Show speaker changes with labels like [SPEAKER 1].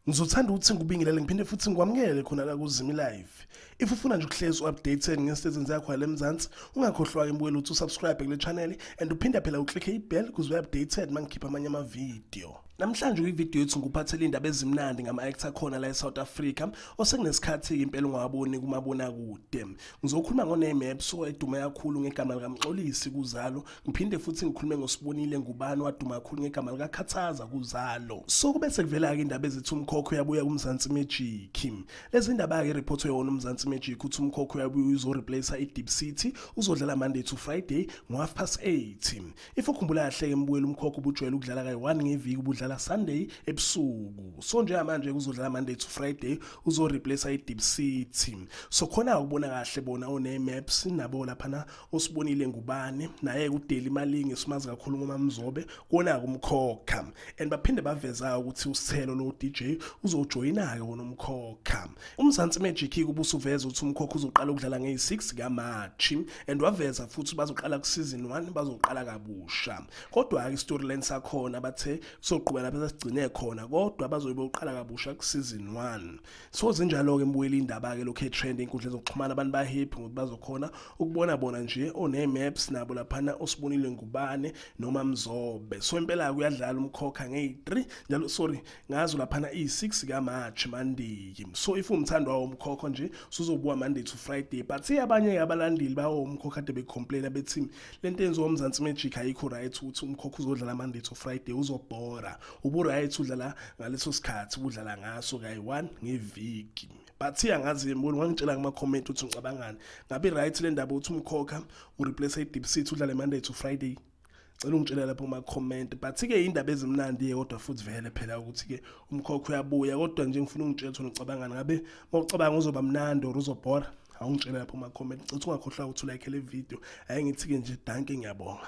[SPEAKER 1] ngizothanda ukuthi ngikubingelele ngiphinde futhi ngikwamukele khona la kuzimi live if ufuna nje ukuhlezi u-updated ngesitethi zakho yala emzansi ungakhohlwa-ke mbukela ukuthi usubscribe kule channel and uphinde phela uklikhe ibell kuze ube-updated uma ngikhipha amanye amavidiyo namhlanje kwividiyo yethu ngikuphathela iy'ndaba ezimnandi ngama-actor khona la e-south africa osekunesikhathi-ke impela ungawaboni kumabonakude Ngizokhuluma ngoname ebusuku edume kakhulu ngegama likaMxolisi kuzalo ngiphinde futhi ngikhulume ngosibonile ngubani waduma kakhulu ngegama likakhathaza kuzalo so kube sekuvela-ke indaba ezithi umkhokho uyabuya kumzansi magic lezi ndaba-ke iriphothi yona umzansi magic uthi umkhokho uyabuya uzoreplace i-deep city uzodlala monday to friday ngo-half past 8 If ukhumbula kahle-ke mbuyela umkhokha ubujwayele ukudlala kayi-one ngeviki ubudlala Sunday ebusuku so njengamanje kuzodlala Monday to Friday uzoreplace i-Deep City so khona ukubona kahle bona one-maps nabo laphana osibonile ngubane naye kudeli imalingi simazi kakhulu ngoma mzobe kona kumkhokha and baphinde baveza ukuthi usithelo lo DJ uzojoyina-ke wona umkhokha umzansi magic-ke ubusuveza ukuthi umkhokha uzoqala ukudlala ngeyi-6 kamarch and waveza futhi bazoqala kusizini 1 bazoqala kabusha kodwa-ke istoryline sakhona bathe kuzoqhubela bese sigcine khona kodwa bazoyibe uqala kabusha kusizini 1 so zinjalo-ke mbuyela indaba-ke lokhu etrend enkundleni zokuxhumana abantu bahappy ngokuthi bazokhona ukubona bona nje onee-maps nabo laphana osibonile ngubane noma mzobe so impela-ke uyadlala umkhokha ngeyi-3 njalo sorry ngazo laphana iyi-6 kamarch monday so if umthandwa womkhokho nje suzobuka monday to friday but abanye-ke abalandeli bawomkhokho kade becomplaina bethi le nto enziwa umzansi magic ayikho right ukuthi umkhokho uzodlala monday to friday uzobhora ubu-right udlala ngaleso sikhathi ubudlala ngaso kayi-one ngeviki but angazi mboni wangitshela kuma-comment ukuthi ngicabangani ngabe right le ndaba ukuthi umkhokha ureplace i-deep city udlale monday to friday Cela ungitshela lapho kuma comment but ke indaba ezimnandi yodwa futhi vele phela ukuthi ke umkhokho uyabuya kodwa nje ngifuna ungitshela ukuthi ucabangani ngabe mawucabanga uzoba mnandi or uzobhora awungitshela lapho kuma comment cela ungakhohlwa ukuthi ulike le video ayengithiye nje danke ngiyabonga